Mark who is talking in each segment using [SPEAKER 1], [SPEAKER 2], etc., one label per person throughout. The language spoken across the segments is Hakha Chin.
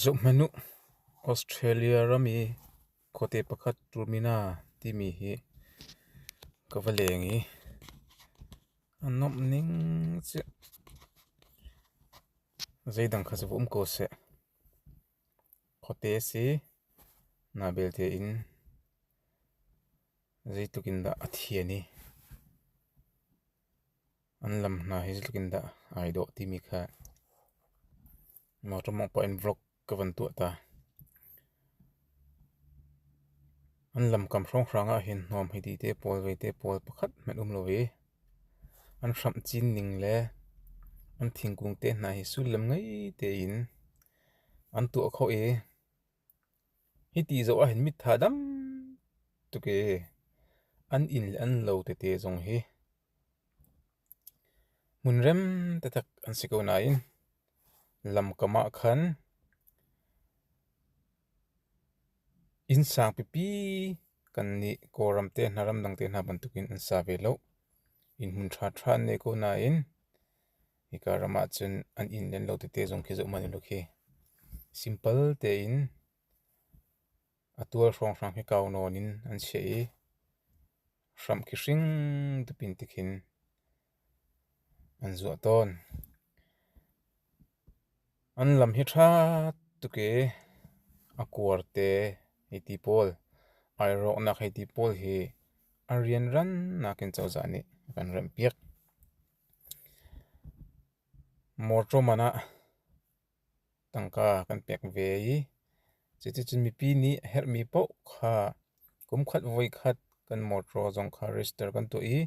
[SPEAKER 1] Zohhmanh u, Australia ram i khuate pakhat Rumina timi hi ka va leng i a nomh ning cu zeidang kha va um ko seh. Khuate a si. Naa belte in zeitluk in dah a thian i. An lam hna hi zeitluk in dah ai dawh timi kha motor mawngh paoh in vlog ka van tuah ta. An lamkam hrawnghrang ah hin hnawm hi ti te pawl vete pawl pakhat hmanh um lo i an hramh cin ning le an thingkung te hna hi sullam ngei tein an tuah khawh i Hiti zoh ahhin mitha dam tuk ee. An inn le an lo tete zong hi hmunrem taktak an si ko nain lamkam ah khan innsang pipi kan nih Kawlram te hna, ramdang te hna bantukin an sa ve lo. Inn hmun ṭhaṭha an nei ko nain Hika ram ahcun an inn len lo tete zong khi zohhmanh u law khi simple tein a tual hrawnghrang hi kau nawn in an chiah i hramh khi hring dupin ti khin an zuah tawn. An lam hi ṭha tuk i a kuar te hei ti pawl, ai rawknak hei ti pawl hi a rianran nakin cozah nih a kan remhpiak. Mawṭaw man ah tangka kan pek ve i cuticun mipi nih a herhmi paoh kha kumkhat voikhat kan mawṭaw zong kha register kan tuah i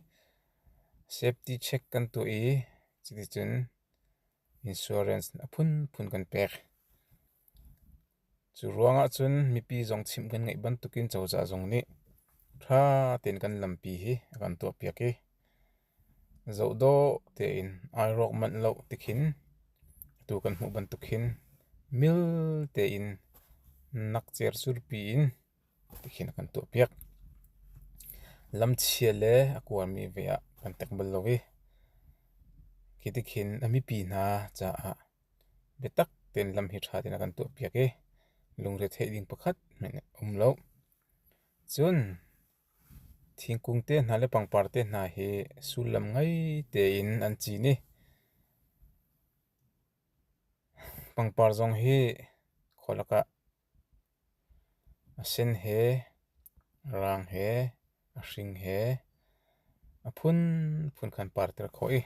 [SPEAKER 1] safety check kan tuah i cuticun insurance a phunphun kan pek. Cu ruangah cun mipi zong chimh kan ngeih bantukin cozah zong nih ṭha tein kan lampi hi a kan tuahpiak i zoh dawh tein ai rawk manh lo tikhin atu kan hmuh bantuk khin mil tein nakcer surpi in tikhin a kan tuahpiak. Lamchia le a kuarmi ve ah kan tek bal lo i khi tikhin a mipi hna caah Biatak tein lam hi ṭha tein a kan tuahpiak i lungretheih ding pakhat hmanh a um lo. Cun thingkung te hna le pangpar te hna hi sullam ngei tein an cin i pangpar zong hi khualak ah A sen he, a raang he, a hring he a phunphun khan parter khawh i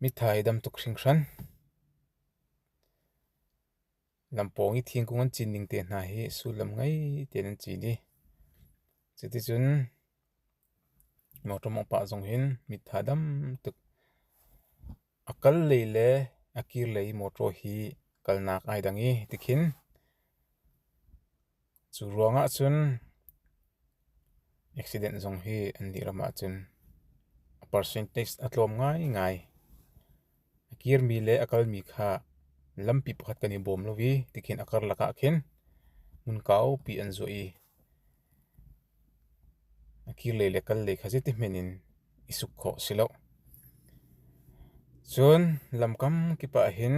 [SPEAKER 1] mithai dam tuk hringhran. Lampawng i thingkung an cin ning te hna hi sullam ngei tein an cin i cuticun mawṭawmawng pa zong hin mitha dam tuk A kallei le a kirlei mawṭaw hi kalnak ai dang i tikhin cu ruangah cun accident zong hi an dirham ahcun a percentage a tlawm ngaingai. A kirmi le a kalmi kha lampi pakhat kan i bawm lo i tikhin a karlak ah khin hmunkaupi an zuah i A kirlei le kallei kha zeitihmanh in i suk khawh a si lo. Cun lamkam kip ahhin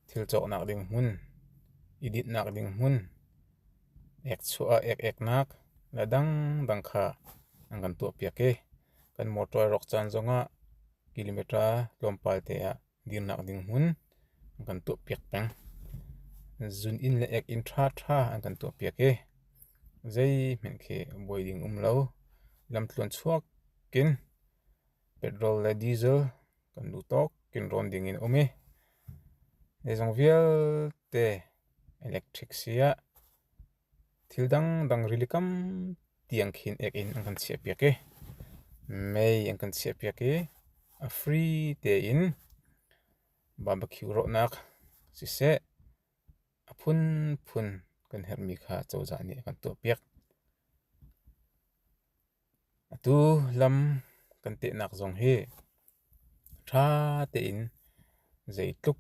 [SPEAKER 1] thil cawhnak ding hmun, i dinhnak ding hmun, ek chuah ah ek-eknak le dangdang kha an kan tuahpiak i kan motor rawk caan zongah kilometre tlawmpal te ah dirnak ding hmun an kan tuahpiak peng. Zun inn le ek inn ṭhaṭha an kan tuahpiak i zeihmanh khi buai ding um lo. Lamtluan chuak in petrol le diesel kan luh tawk in rawn ding in um i zeizong vialte electric si ah Thil dangdang rili tampi an khin ek in an kan chiahpiak i mei an kan chiahpiak i a fri tein barbecue rawhnak siseh a phunphun kan herhmi kha cozah nih a kan tuahpiak. Atu lam kan tehnak zong hi ṭha tein zeitluk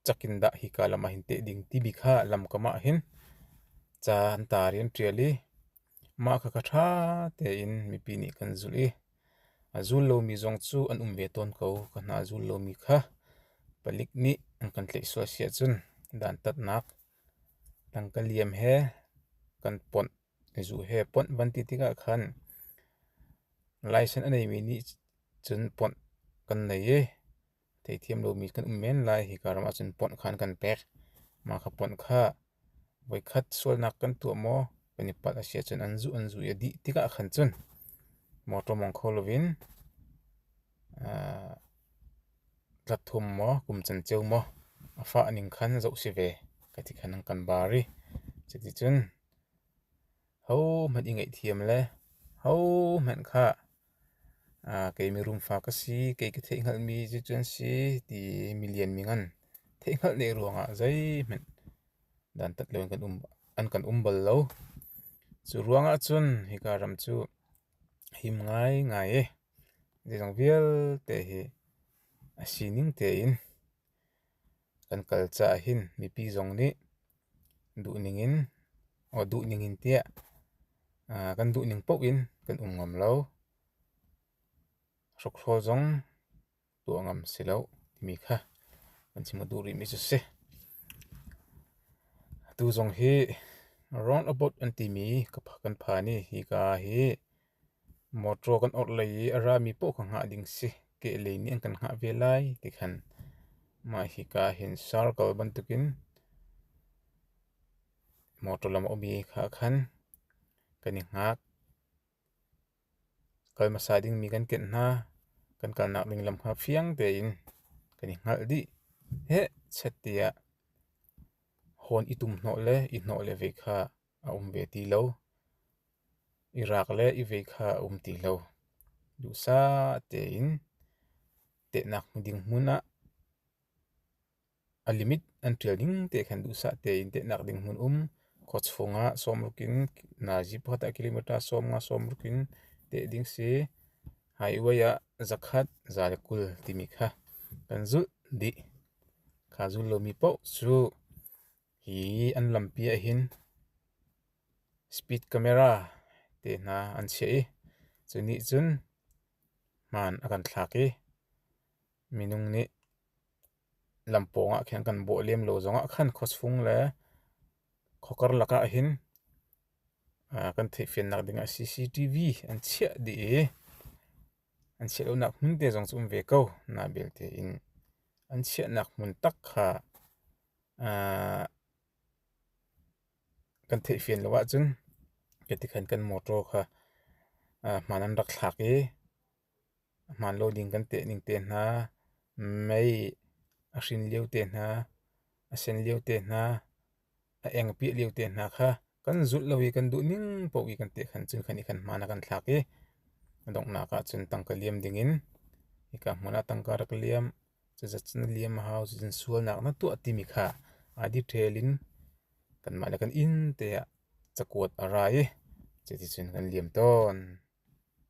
[SPEAKER 1] cak in dah hika lam ah hin teh ding timi kha lam kam ah hin ca an tar i an ṭial i mah kha kha ṭha tein mipi nih kan zulh i a zul lomi zong cu an um ve tawn ko. Ka hna a zul lomi kha palik nih an kan tlaih sual si ahcun dantatnak tangka liam he kan ponh. I zuh he ponh van ti tikah khan license a neimi nih cun ponh kan nei i theithiam lomi kan um men lai. Hika ram ah cun ponh kha an kan pek. Mah kha ponh kha voikhat sualnak kan tuah maw kan i palh a si ahcun an zuh an zuh i a dih tikah khan cun motor mawng kho loin rat thum maw kum canceu maw a fah ning khan zoh si ve ka ti khan an kan bar i cuticun Hohmanh i ngaihthiam le hohmanh kha kei mirum fa ka si, kei ka theihhngalhmi cucu an si ti milianmi ngan theihhngalh ne ruangah zeihmanh dantat lo in an kan um bal lo. Cu ruangah cun hika ram cu him ngaingai i zeizong vialte hi a sining tein kan kal caah hin mipi zong nih duhning in or duhning in tiah uh, kan duhning paoh in kan um ngam lo. Hrukhrol zong tuah ngam si lo timi kha kan chim duh rihmi cu si. Tu zong hi roundabout an timi kan phan i hi ka hi Motor kan orh lei i a rami paoh kha hngah ding si. Kehlei nih an kan hngah ve lai ti khan mah hika hin circle bantukin motor lam a ummi kha khan kan i hngak. Kal hmasa dingmi kan kenh hna. Kan kalnak ding lam kha fiang tein kan i hngalh dih. Heh! Chat tiah hon i tum hnawh le i hnawh le ve kha A um ve ti lo. I raak le i vei kha a um ti lo. Duhsah tein tehnak ding hmun ah a limit an ṭial ning te khan duhsah tein tehnak ding hmun um. Khuachung ah sawmruk in nazi phata kilometer sawmnga sawmruk in teh ding si. Highway ah zakhat za le kul timi kha kan zulh dih. Kha zul lomi paoh cu Hi an lampi ahhin speed camera tehna an chiah i cu nih cun hmaan a kan thlak i minung nih lam pawngah khin kan bawh lem lo zongah khan khuasfung le khuakar lakah hin kan theihfiannak dingah CCTV an chiah dih i an chiah lonak hmun te zong cu um ve ko. Nain belte in an chiahnak hmun tak kha kan theih fian lo ahcun ketikhan kan motor kha hmaan an rak thlak i hmaan lo ding kan teh ning te hna, mei a hrin lio te hna, a sen lio te hna, a eng piah lio te hna kha kan zulh lo i kan duh ning paoh i kan teh khan cun khan i khan hmaan a kan thlak i a donghnak ahcun tangka liam dingin hika hmun ah tangka rak liam. Cucacan liam a hau. Cucacan sualnak na tuah timi kha ai detail in kanmah le kan inn te ah cakuat a ra i cuticun kan liam tawn.